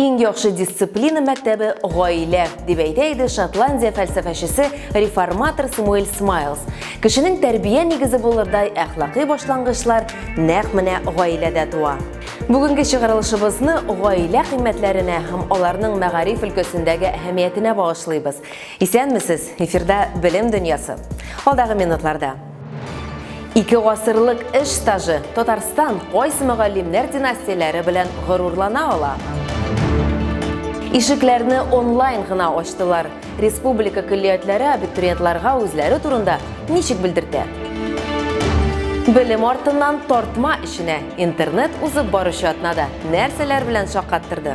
Иң яхшы дисциплина мәктәбе гаилә, дип әйтә иде Шотландия фәлсәфәчесе реформатор Самуэль Смайлс. Кешенең тәрбия нигезе булырдай әхлакый башлангычлар нәкъ менә гаиләдә туа. Бүгенге чыгарылышыбызны гаилә кыйммәтләренә һәм аларның мәгариф өлкәсендәге әһәмиятенә багышлыйбыз. Исәнмесез! Эфирда Белем дөньясы. Алдагы минутларда Ике гасырлык эш стажы Татарстан кайсы мөгаллимнәр династияләре белән горурлана ала? Ишекләрне онлайн гына ачтылар. Республика көллиятләре абитуриентларга үзләре турында ничек белдертә? Белем артыннан тартма эшенә интернет узып баручы атнада нәрсәләр белән шаккаттырды?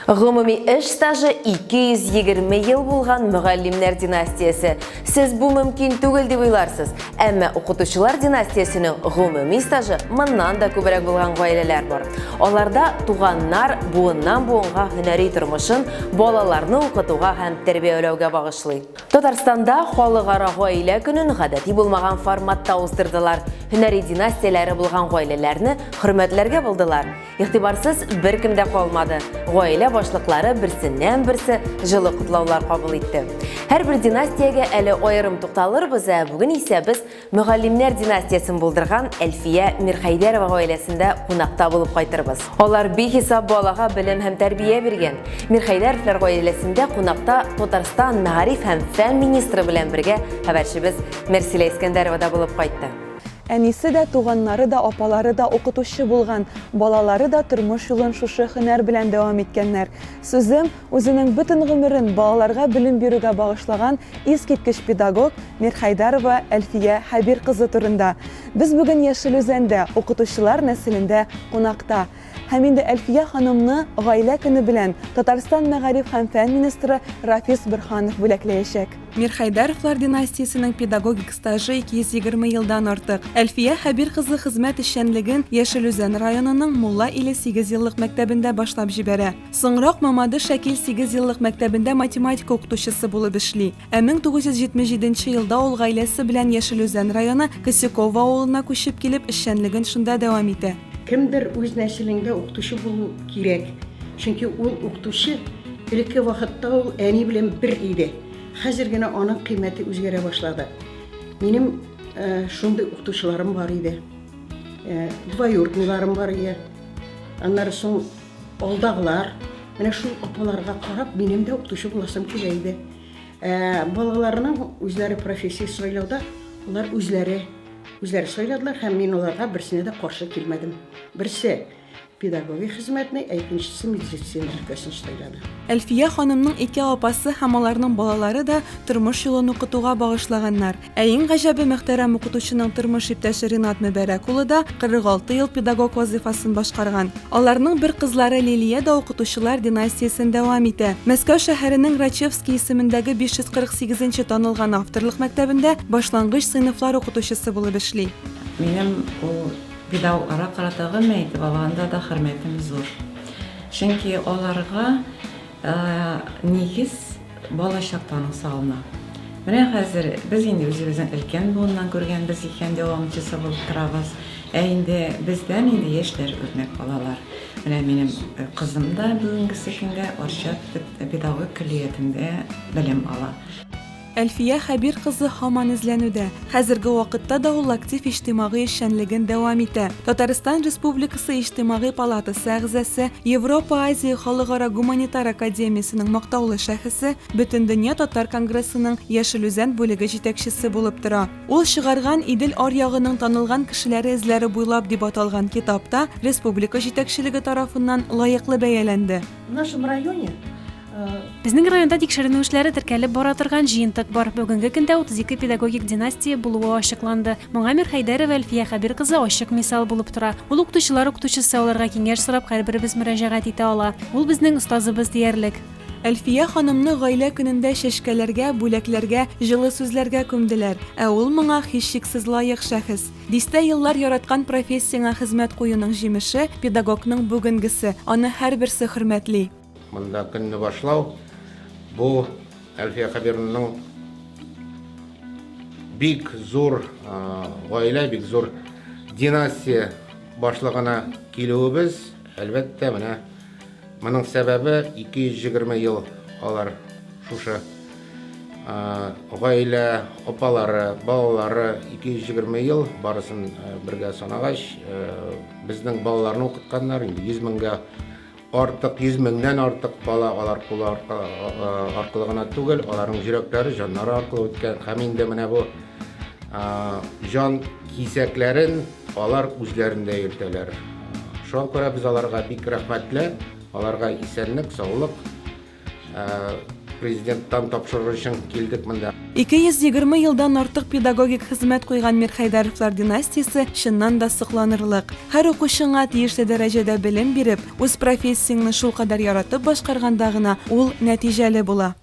Гомуми эш стажы 220 ел булган мөгаллимнәр династиясе. Сез бу мөмкин түгел дип уйларсыз, әмма укытучылар династиясенең гомуми стажы моннан да күбрәк булган гаиләләр бар. Аларда туганнар буыннан буынга һөнәри тормышын балаларны укытуга һәм тәрбияләүгә багышлый. Татарстанда халыкара гаилә көнен гадәти булмаган форматта уздырдылар. Һөнәри династияләре булган гаиләләрне хөрмәтләргә булдылар. Игътибарсыз беркем дә калмады. Гаилә башлыклары берсеннән-берсе җылы котлаулар кабул итте. Һәрбер династиягә әле аерым тукталырбыз, ә бүген исә без мөгаллимнәр династиясен булдырган Әлфия Мирхәйдәрова гаиләсендә кунакта булып кайтырбыз. Алар бихисап балага белем һәм тәрбия биргән. Мирхәйдәровлар гаиләсендә кунакта Татарстан мәгариф һәм фән министры белән бергә хәбәрчебез Мерсилә Искәндәрова да булып кайтты. Әнисе дә, туганнары да, апалары да укытучы булган, балалары да тормыш юлын шушы һөнәр белән дәвам иткәннәр. Сүзем, үзенең бөтен гомерен балаларга белем бирүгә багышлаган искиткеч педагог Мирхәйдәрова Әлфия Хәбир кызы турында. Без бүген Яшел Үзәндә, укытучылар нәселендә кунакта. Һәм инде Әлфия ханымны гаилә көне белән Татарстан мәгариф һәм фән министры Рафис Борһанов бүләкләячәк. Мирхәйдәровлар династиясенең педагогик стажы 220 елдан артык. Әлфия Хәбир кызы хезмәт эшчәнлеген Яшел Үзән районының Мулла иле сигезьеллык мәктәбендә башлап җибәрә. Соңрак Мамадыш-Әкил сигезьеллык мәктәбендә математика укытучысы булып эшли. Ә 1977 елда ул гаиләсе белән Яшел Үзән районы Косяково авылына күчеп килеп, эшчәнлеген шунда дәвам итә. Кемдер үз нәселеңдә укытучы булу кирәк, чөнки ул укытучы, элекке вакытта ул әни белән бер иде, хәзер генә аның кыйммәте үзгәрә башлады. Минем шундый укытучыларым бар иде, двоюродныйларым бар иде, аннары соң, Алдагылар, менә шул апаларга карап, минем дә укытучы буласым килә иде. Ә, балаларының үзләре профессия сайлауда, алар үзләре, үзләре сайладылар, һәм мин аларга берсенә дә каршы килмәдем. Берсе педагогия хезмәтне, ә икенчесе медицина өлкәсен сайлады. Әлфия ханымның ике апасы һәм аларның балалары да тормыш юлын укытуга багышлаганнар. Ә иң гаҗәбе, мөхтәрәм укытучының тормыш иптәше Ринат Мөбәрәк улы да 46 ел педагог вазыйфасын башкарган. Аларның бер кызлары Лилия дә укытучылар династиясен дәвам итә. Мәскәү шәһәренең Рачевский исемендәге 548 нче танылган авторлык мәктәбендә башлангыч сыйныфлар укытучысы булып эшли. Минем ул педагогларга карата гомумән итеп алганда да хөрмәтем зур. Чөнки аларга Нигез балачактан ук салына. Менә хәзер без инде үзебезнең өлкән буыннан күргәнбез икән, дәвамчысы булып торабыз. Ә инде бездән инде яшьләр үрнәк алалар. Менә минем кызым да бүгенгесе көнгә Арча педагогик көллиятендә белем ала. Әлфия Хәбир кызы һаман эзләнүдә. Хәзерге вакытта да ул актив иҗтимагый эшчәнлеген дәвам итә. Татарстан Республикасы Иҗтимагый палатасы әгъзасы, Европа-Азия халыкара гуманитар академиясенең мактаулы шәхесе, Бөтендөнья татар конгрессының Яшел Үзән бүлеге җитәкчесе булып тора. Ул чыгарган Идел аръягының танылган кешеләре эзләре буйлап дип аталган китап та республика җитәкчелеге тарафыннан лаеклы бәяләнде. В нашем районе Безнең районда тикшеренү эшләре теркәлеп бара торган җыентык бар. Бүгенге көндә 32 педагогик династия булуы ачыкланды. Моңа Мир Хәйдәрова Әлфия Хәбир кызы ачык мисал булып тора. Ул укытучылар укытучысы аларга киңәш сорап һәрберебез мөрәҗәгать итә ала. Ул безнең остазыбыз диярлек. Әлфия ханымны гаилә көнендә чәчкәләргә, бүләкләргә, җылы сүзләргә күмделәр. Ә ул моңа һичшиксез лаек шәхес. Дистә еллар яраткан профессияңә хезмәт куюның җимеше, педагогның бүгенгесе. Аны һәрберсе хөрмәтли. Монда көнне башлау бу Әлфия Хәбированың бик зур гаилә, бик зур династия башлыгына килүебез, әлбәттә, менә моның сәбәбе 220 ел алар шушы гаилә апалары, балалары 220 ел барысын бергә санагач, безнең балаларны укытканнар, инде 100 меңгә Артык, йөз меңнән артык бала алар кулы аркылы гына түгел, аларның йөрәкләре, җаннары аркылы үткән. Һәм инде менә бу җан кисәкләрен алар үзләрендә йөртәләр. Шуңа күрә без аларга бик рәхмәтле, аларга исәнлек, саулык, Президенттан тапшыру өчен килдек монда. 220 елдан артык педагогик хезмәт куйган Мирхәйдәровлар династиясе чыннан да сокланырлык. Һәр укучыңа тиешле дәрәҗәдә белем биреп, үз профессияңне шулкадәр яратып башкарганда гына ул нәтиҗәле була.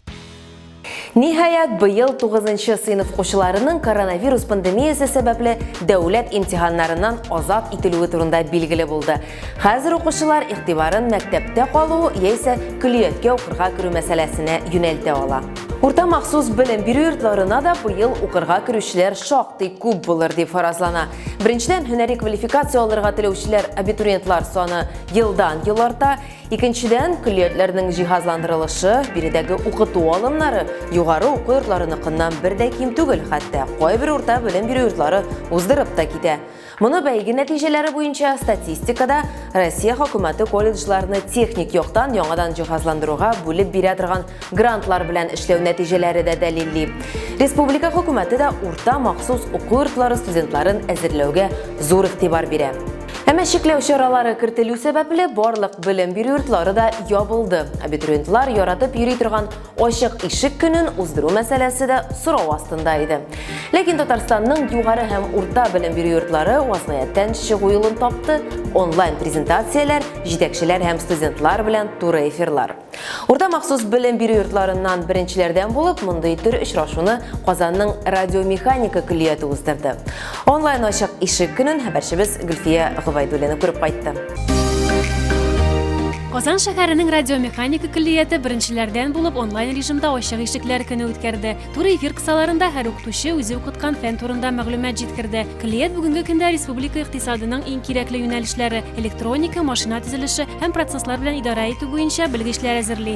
Ниһаять, быел тугызынчы сыйныф укучыларының коронавирус пандемиясе сәбәпле дәүләт имтиханнарыннан азат ителүе турында билгеле булды. Хәзер укучылар игътибарын мәктәптә калу яисә көллияткә укырга керү мәсьәләсенә юнәлтә ала. Урта махсус белем бирү йортларына да быел укырга керүчеләр шактый күп булыр дип фаразлана. Беренчедән, һөнәри квалификация алырга теләүчеләр, абитуриентлар саны елдан-ел арта. Икенчедән, көллиятләрнең җиһазландырылышы, биредәге укыту алымнары югары уку йортларыныкыннан бер дә ким түгел, хәтта кайбер урта белем бирү йортлары уздырып та китә. Моны бәйге нәтиҗәләре буенча статистикада Россия хөкүмәте колледжларны техник яктан яңадан җиһазландыруга бүлеп бирә торган грантлар белән эшләү нәтиҗәләре дә дәлилли. Республика хөкүмәте дә урта махсус уку йортлары студентларын әзерләүгә зур игътибар бирә. Әмма чикләү чаралары кертелү сәбәпле барлык белем бирү йортлары да ябылды. Абитуриентлар яратып йөри торган Ачык ишек көнен уздыру мәсьәләсе дә сорау астында иде. Ләкин Татарстанның югары һәм урта белем бирү йортлары вазгыятьтән чыгу юлын тапты, онлайн презентацияләр, җитәкчеләр һәм студентлар белән туры эфирлар. Урта махсус белем бирү йортларыннан беренчеләрдән булып мондый төр очрашуны Казанның радиомеханика көллияте уздырды. Онлайн ачык ишек көнен хәбәрчебез Гөлфия Гобайдуллина күреп кайтты. Казан шәһәренең радиомеханика көллияте беренчеләрдән булып онлайн режимда ачык ишекләр көне үткәрде. Тур эфир кысаларында һәр укытучы үзе укыткан фән турында мәгълүмат җиткерде. Көллият бүгенге көндә республика икътисадының иң кирәкле юнәлешләре, электроника, машина төзелеше һәм процесслар белән идарә итү буенча белгечләр әзерли.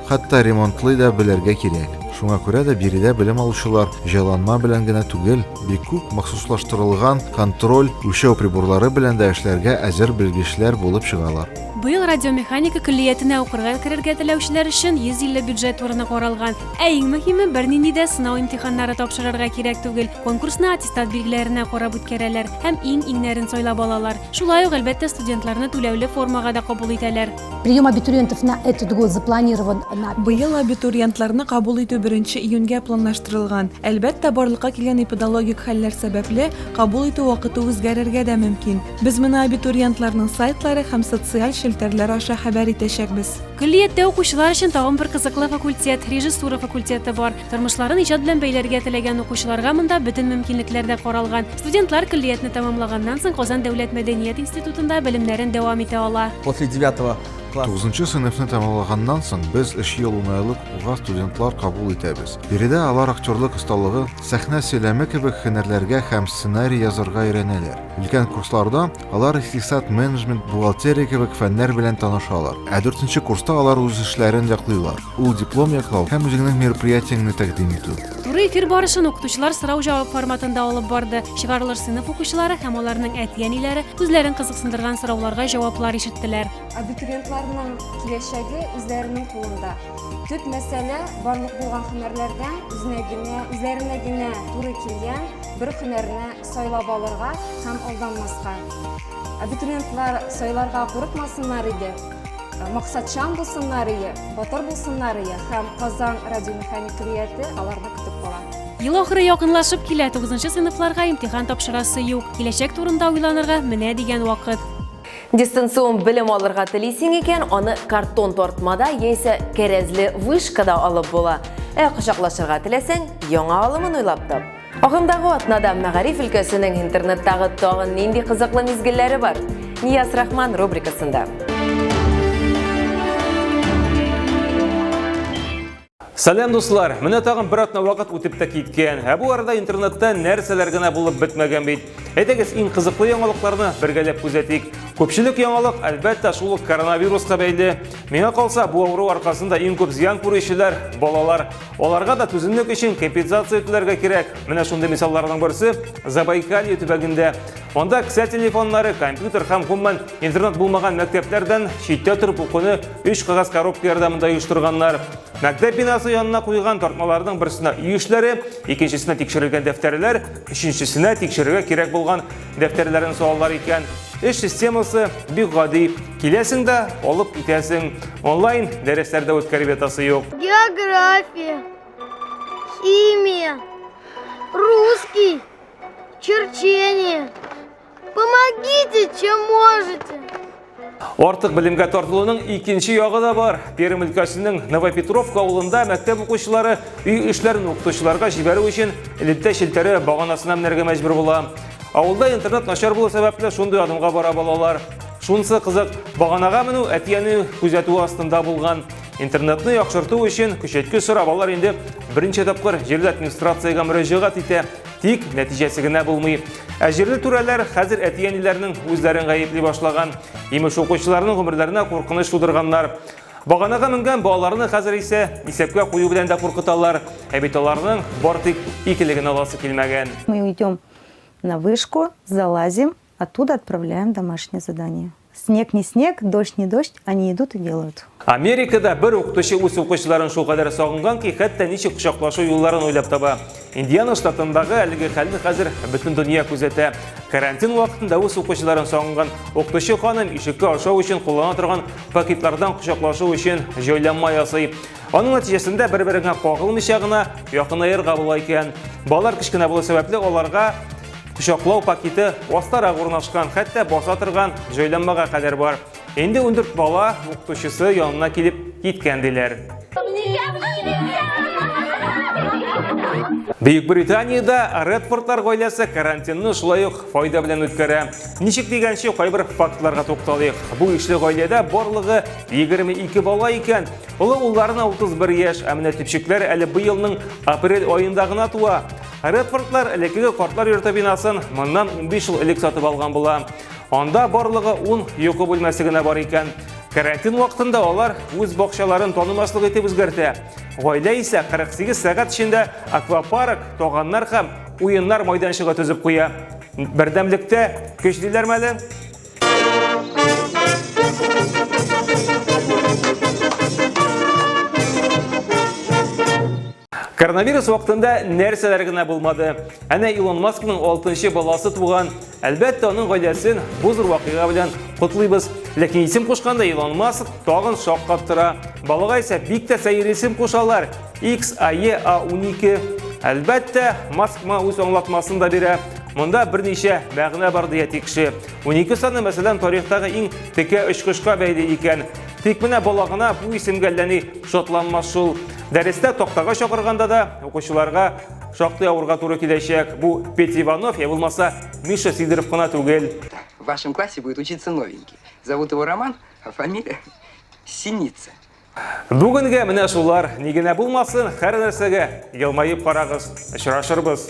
Хәтта ремонтлый да белергә кирәк. Шуңа күрә дә биредә белем алучылар җайланма белән генә түгел, бик күп махсуслаштырылган контроль, үлчәү приборлары белән дә эшләргә әзер белгечләр булып чыгалар. Быел радиомеханика көллиятенә укырга керергә теләүчеләр өчен 150 бюджет урыны каралган. Ә иң мөһиме, бернинди дә сынау имтиханнары тапшырырга кирәк түгел, конкурсны аттестат билгеләренә карап үткәрәләр һәм иң-иңнәрен сайлап алалар. Шулай ук, әлбәттә, студентларны түләүле формага да кабул итәләр. Прием абитуриентов на этот год запланирован на... Быел абитуриентларны кабул итү 1 июньгә планлаштырылган. Әлбәттә, барлыкка килгән эпидологик хәлләр сәбәпле, кабул итү вакыты үзгәрергә дә мөмкин. Без моны абитуриентларның сайтлары һәм социаль челтәрләр аша хәбәр итәчәкбез. Көллияттә укучылар өчен тагын бер кызыклы факультет, режиссура факультеты бар. Тормышларын иҗат белән бәйләргә теләгән укучыларга монда бөтен мөмкинлекләр дә каралган. Студентлар көллиятне тәмамлаганнан соң Казан дәүләт мәдәният институтында белемнәрен дәвам итә ала. После девятого класса. Тугызынчы сыйныфны тәмамлаганнан соң без өч ел унайлык уга студентлар кабул итәбез. Биредә алар актерлык осталыгы, сәхнә сөйләме кебек һөнәрләргә һәм сценарий язарга өйрәнәләр. Өлкән курсларда Алар икътисад, менеджмент, бухгалтерия кебек фәннәр белән танышалар. Ә дүртенче курста алар үз эшләрен яклыйлар. Ул диплом яклау һәм үзеңнең мероприятиеңне тәкъдим итү. Туры эфир барышын укытучылар сорау-җавап форматында алып барды. Чыгарылыш сыйныф укучылары һәм аларның әти-әниләре үзләрен кызыксындырган сорауларга җаваплар ишеттеләр. Абитуриентларның киләчәге үзләренең кулында. Төп мәсьәлә, барлык булган һөнәрләрдән үзенә генә, үзләренә генә туры килгән бер һөнәрне Сайлап алырга һәм алданмаска. Абитуриентлар сайларга курыкмасыннар иде, максатчан булсыннар ие, батыр булсыннар ие һәм Казан радиомеханик көллияте аларны көтеп кала. Ел ахыры якынлашып килә, тугызынчы сыйныфларга имтихан тапшырасы юк. Киләчәк турында уйланырга менә дигән вакыт. Дистанцион белем алырга телисең икән, аны картон тартмада яисә кәрәзле вышкада алып була. Ә кочаклашырга теләсәң, яңа алымын уйлап тап. Агымдагы атнада мәгариф өлкәсенең интернеттагы тагын нинди кызыклы мизгелләре бар? Нияз Рахман рубрикасында. Сәлем дуслар! Менә тагын бер атна вакыт үтеп тә киткән. Ә бу арада интернетта нәрсәләр генә булып бетмәгән бит. Әйдәгез, иң кызыклы яңалыкларны бергәләп күзәтик. Күпчелек яңалык, әлбәттә, шул ук коронавируска бәйле. Миңа калса, бу авыру аркасында иң күп зыян күрүчеләр балалар. Аларга да түземлек өчен компенсация түләргә кирәк. Менә шундый мисалларның берсе Забайкалье төбәгендә. Анда кесә телефоннары, компьютер һәм гомумән интернет булмаган мәктәпләрдән читтә торып укуны өч кагаз коробка ярдәмендә оештырганнар. Мәктәп бинасы янына куйган тартмаларның берсенә өй эшләре, икенчесенә тикшерелгән дәфтәрләр, өченчесенә тикшерергә кирәк булган Дәфтәрләрен салалар икән, эш системасы бик гади. Киләсең дә, алып китәсең. Онлайн дәресләрдә үткәреп ятасы юк. География, химия, русский, черчение. Помогите, чем можете. Артык белемгә тартылуның икенче ягы да бар. Пермь өлкәсенең Новопетровка авылында мәктәп укучылары өй эшләрен укытучыларга җибәрү өчен электә челтәре баганасына менәргә мәҗбүр була. Авылда интернет начар булу сәбәпле шундый адымга бара балалар. Шунысы кызык, баганага менү әтиәне күзәтүе астында булган. Интернетны яхшырту өчен көчәйткеч сорап алар инде берничә тапкыр җирле администрациягә мөрәҗәгать итә. Тик нәтиҗәсе генә булмый. Ә җирле түрәләр хәзер әти-әниләрнең үзләрен гаепли башлаган. Имеш укучыларның гомерләренә куркыныч тудырганнар. Баганага менгән балаларны хәзер исә исәпкә кую белән дә куркыталар. Ә бит аларның бар тик икелеген аласы килмәгән. Мы идем на вышку, залазим, Оттуда отправляем домашнее задание. Снег не снег, дождь не дождь, они идут и делают. Америкада бер укытучы үз укучыларын шул кадәр сагынган ки, хәтта ничек кочаклашу юлларын уйлап таба. Индиана штатындагы әлеге хәлне хәзер бөтен дөнья күзәтә. Карантин вакытында үз укучыларын сагынган укытучы ханым ишеккә ашау өчен куллана торган пакетлардан кочаклашу өчен җайланма ясый. Аның нәтиҗәсендә бер-береңә кагылмыйча гына якынаерга була икән. Балалар кечкенә булу сәбәпле аларга Кочаклау пакеты астарак урнашкан, хәтта баса торган җайланмага кадәр бар. Инде 14 бала укытучысы янына килеп киткән диләр. Бөек Британиядә Редфордлар гаиләсе карантинны шулай ук файда белән үткәрә. Ничек дигәнче кайбер фактларга тукталыйк. Бу ишле гаиләдә барлыгы 22 бала икән. Олы улларына 31 яшь, ә менә төпчекләр әле быелның апрель аенда гына туа. Редфордлар элеккеге картлар йорты бинасын моннан 15 ел элек сатып алган була. Анда барлыгы 10 йокы бүлмәсе генә бар икән. Карантин вакытында алар үз бакчаларын танымаслык итеп үзгәртә. Гаилә исә 48 сәгать эчендә аквапарк, тоганнар һәм уеннар майданчыгы төзеп куя. Бердәмлектә көч диләр мәле. Коронавирус вакытында нәрсәләр генә булмады. Әнә Илон Маскның 6нчы баласы туган. Әлбәттә, аның гаиләсен бу зур вакыйга белән котлыйбыз. Ләкин исем кушканда Илон Маск тагын шаккат тора. Балага исә бик тә сәер исем кушалар. XAE A12. Әлбәттә, Маск моңа үз аңлатмасын да бирә. Монда берничә мәгънә бар дия тикше. 12 саны, мәсәлән, тарихтагы иң текә очкычка бәйле икән. Тик менә балагына бу исемгә әлләни шатланмас шул. Дәрестә тактага чакырганда да укучыларга шактый авырга туры киләчәк. Бу Петя Иванов, я булмаса Миша Сидоров кына түгел. В вашем классе будет учиться новенький. Зовут его Роман, а фамилия Синица. Бүгенге менә шулар ни генә булмасын, һәр нәрсәгә елмаеп карагыз. Очрашырбыз.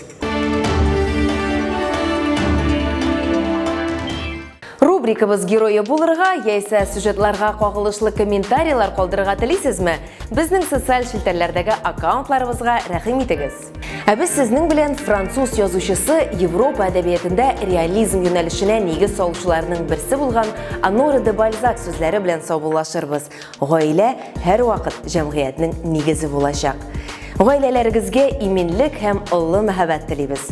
Рубрикабыз герое булырга яисә сюжетларга кагылышлы комментарийлар калдырырга телисезме? Безнең социаль челтәрләрдәге аккаунтларыбызга рәхим итегез. Ә без сезнең белән француз язучысы Европа әдәбиятендә реализм юнәлешенә нигез салучыларның берсе булган Анора де Бальзак сүзләре белән саубуллашырбыз. Гаилә һәрвакыт җәмгыятьнең нигезе булачак. Гаиләләрегезгә иминлек һәм олы мәһабәт телибез.